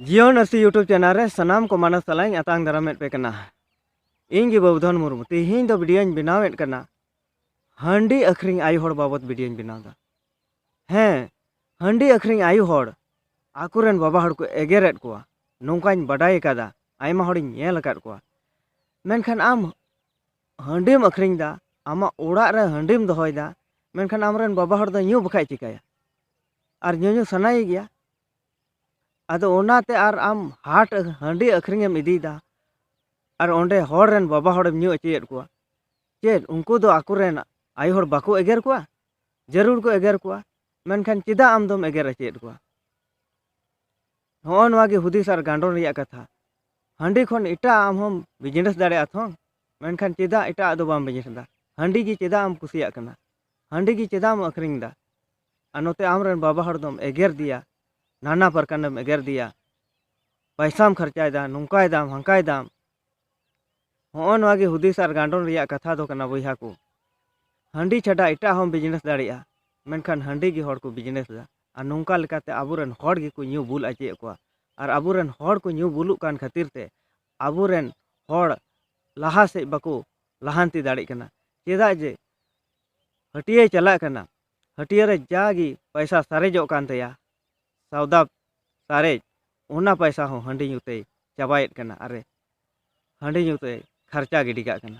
ᱡᱤᱭᱚᱱ Arsi YouTube channel ᱨᱮ ᱥᱟᱱᱟᱢ ᱠᱚ ᱢᱟᱱᱚᱥ ᱥᱟᱞᱟᱧ ᱟᱛᱟᱝ ᱫᱟᱨᱟᱢᱮᱫ ᱯᱮ ᱠᱟᱱᱟ ᱤᱧ ᱜᱮ ᱵᱟᱵᱩᱫᱷᱚᱱ ᱢᱩᱨᱢᱩ ᱛᱮᱦᱮᱧ ᱫᱚ ᱵᱷᱤᱰᱤᱭᱳᱧ ᱵᱮᱱᱟᱣᱮᱫ ᱠᱟᱱᱟ ᱦᱟᱺᱰᱤ ᱟᱹᱠᱷᱨᱤᱧ ᱟᱭᱳ ᱦᱚᱲ ᱵᱟᱵᱚᱫ ᱵᱷᱤᱰᱤᱭᱳᱧ ᱵᱮᱱᱟᱣᱫᱟ ᱦᱮᱸ ᱦᱟᱺᱰᱤ ᱟᱹᱠᱷᱨᱤᱧ ᱟᱭᱳ ᱦᱚᱲ ᱟᱠᱚᱨᱮᱱ ᱵᱟᱵᱟ ᱦᱚᱲ ᱠᱚ ᱮᱜᱮᱨᱮᱫ ᱠᱚᱣᱟ ᱱᱚᱝᱠᱟᱧ ᱵᱟᱰᱟᱭ ᱟᱠᱟᱫᱟ ᱟᱭᱢᱟ ᱦᱚᱲᱤᱧ ᱧᱮᱞ ᱟᱠᱟᱫ ᱠᱚᱣᱟ ᱢᱮᱱᱠᱷᱟᱱ ᱟᱢ ᱦᱟᱺᱰᱤᱢ ᱟᱹᱠᱷᱨᱤᱧᱫᱟ ᱟᱢᱟᱜ ᱚᱲᱟᱜ ᱨᱮ ᱦᱟᱺᱰᱤᱢ ᱫᱚᱦᱚᱭᱫᱟ ᱢᱮᱱᱠᱷᱟᱱ ᱟᱢᱨᱮᱱ ᱵᱟᱵᱟ ᱦᱚᱲ ᱫᱚ ᱧᱩ ᱵᱟᱠᱷᱟᱡ ᱪᱤᱠᱟᱹᱭᱟ ᱟᱨ ᱧᱩᱧᱩ ᱥᱟᱱᱟᱭᱮ ᱜᱮᱭᱟ ᱟᱫᱚ ᱚᱱᱟᱛᱮ ᱟᱨ ᱟᱢ ᱦᱟᱴ ᱦᱟᱺᱰᱤ ᱟᱹᱠᱷᱨᱤᱧ ᱮᱢ ᱤᱫᱤᱭᱮᱫᱟ ᱟᱨ ᱚᱸᱰᱮ ᱦᱚᱲ ᱨᱮᱱ ᱵᱟᱵᱟ ᱦᱚᱲᱮᱢ ᱧᱩ ᱚᱪᱚᱭᱮᱫ ᱠᱚᱣᱟ ᱪᱮᱫ ᱩᱱᱠᱩ ᱫᱚ ᱟᱠᱚ ᱨᱮᱱ ᱟᱭᱳ ᱦᱚᱲ ᱵᱟᱠᱚ ᱮᱜᱮᱨ ᱠᱚᱣᱟ ᱡᱟᱹᱨᱩᱲ ᱠᱚ ᱮᱜᱮᱨ ᱠᱚᱣᱟ ᱢᱮᱱᱠᱷᱟᱱ ᱪᱮᱫᱟᱜ ᱟᱢ ᱫᱚᱢ ᱮᱜᱮᱨ ᱚᱪᱚᱭᱮᱫ ᱠᱚᱣᱟ ᱱᱚᱜᱼᱚ ᱱᱚᱣᱟ ᱜᱮ ᱦᱩᱫᱤᱥ ᱟᱨ ᱜᱟᱸᱰᱚᱱ ᱨᱮᱭᱟᱜ ᱠᱟᱛᱷᱟ ᱦᱟᱺᱰᱤ ᱠᱷᱚᱱ ᱮᱴᱟᱜ ᱟᱢ ᱦᱚᱸᱢ ᱵᱤᱡᱽᱱᱮᱥ ᱫᱟᱲᱮᱭᱟᱜᱼᱟ ᱛᱷᱚ ᱢᱮᱱᱠᱷᱟᱱ ᱪᱮᱫᱟᱜ ᱮᱴᱟᱜ ᱫᱚ ᱵᱟᱢ ᱵᱤᱡᱽᱱᱮᱥ ᱮᱫᱟ ᱦᱟᱺᱰᱤ ᱜᱮ ᱪᱮᱫᱟᱜ ᱮᱢ ᱠᱩᱥᱤᱭᱟᱜ ᱠᱟᱱᱟ ᱦᱟᱺᱰᱤ ᱜᱮ ᱪᱮᱫᱟᱜ ᱮᱢ ᱟᱹᱠᱷᱨᱤᱧ ᱮᱫᱟ ᱟᱨ ᱱᱚᱛᱮ ᱟᱢᱨᱮᱱ ᱵᱟᱵᱟ ᱦᱚᱲ ᱫᱚᱢ ᱮᱜᱮᱨᱫᱮᱭᱟ ᱱᱟᱱᱟ ᱯᱨᱚᱠᱟᱨᱮᱢ ᱮᱜᱮᱨᱫᱮᱭᱟ ᱯᱚᱭᱥᱟᱢ ᱠᱷᱚᱨᱪᱟᱭᱮᱫᱟ ᱱᱚᱝᱠᱟᱭᱮᱫᱟᱢ ᱦᱟᱱᱠᱟᱭᱮᱫᱟᱢ ᱦᱚᱸᱜᱼᱚ ᱱᱚᱣᱟ ᱜᱮ ᱦᱩᱫᱤᱥ ᱟᱨ ᱜᱟᱸᱰᱚᱱ ᱨᱮᱭᱟᱜ ᱠᱟᱛᱷᱟ ᱫᱚ ᱠᱟᱱᱟ ᱵᱚᱭᱦᱟ ᱠᱚ ᱦᱟᱺᱰᱤ ᱪᱷᱟᱰᱟ ᱮᱴᱟᱜ ᱦᱚᱸ ᱵᱤᱡᱽᱱᱮᱥ ᱫᱟᱲᱮᱭᱟᱜᱼᱟ ᱢᱮᱱᱠᱷᱟᱱ ᱦᱟᱺᱰᱤ ᱜᱮ ᱦᱚᱲ ᱠᱚ ᱵᱤᱡᱽᱱᱮᱥ ᱮᱫᱟ ᱟᱨ ᱱᱚᱝᱠᱟ ᱞᱮᱠᱟᱛᱮ ᱟᱵᱚᱨᱮᱱ ᱦᱚᱲ ᱜᱮᱠᱚ ᱧᱩ ᱵᱩᱞ ᱚᱪᱚᱭᱮᱫ ᱠᱚᱣᱟ ᱟᱨ ᱟᱵᱚᱨᱮᱱ ᱦᱚᱲ ᱠᱚ ᱧᱩ ᱵᱩᱞᱩᱜ ᱠᱟᱱ ᱠᱷᱟᱹᱛᱤᱨ ᱛᱮ ᱟᱵᱚᱨᱮᱱ ᱦᱚᱲ ᱞᱟᱦᱟ ᱥᱮᱫ ᱵᱟᱠᱚ ᱞᱟᱦᱟᱱᱛᱤ ᱫᱟᱲᱮᱜ ᱠᱟᱱᱟ ᱪᱮᱫᱟᱜ ᱡᱮ ᱦᱟᱹᱴᱭᱟᱹᱭ ᱪᱟᱞᱟᱜ ᱠᱟᱱᱟ ᱦᱟᱹᱴᱤᱭᱟᱹ ᱨᱮ ᱡᱟ ᱜᱮ ᱯᱚᱭᱥᱟ ᱥᱟᱨᱮᱡᱚᱜ ᱠᱟᱱ ᱛᱟᱭᱟ ᱥᱚᱣᱫᱟ ᱥᱟᱨᱮᱡ ᱚᱱᱟ ᱯᱚᱭᱥᱟ ᱦᱚᱸ ᱦᱟᱺᱰᱤ ᱧᱩ ᱛᱮᱭ ᱪᱟᱵᱟᱭᱮᱫ ᱠᱟᱱᱟ ᱟᱨᱮ ᱦᱟᱺᱰᱤ ᱧᱩ ᱛᱮᱭ ᱠᱷᱚᱨᱪᱟ ᱜᱤᱰᱤ ᱠᱟᱜ ᱠᱟᱱᱟ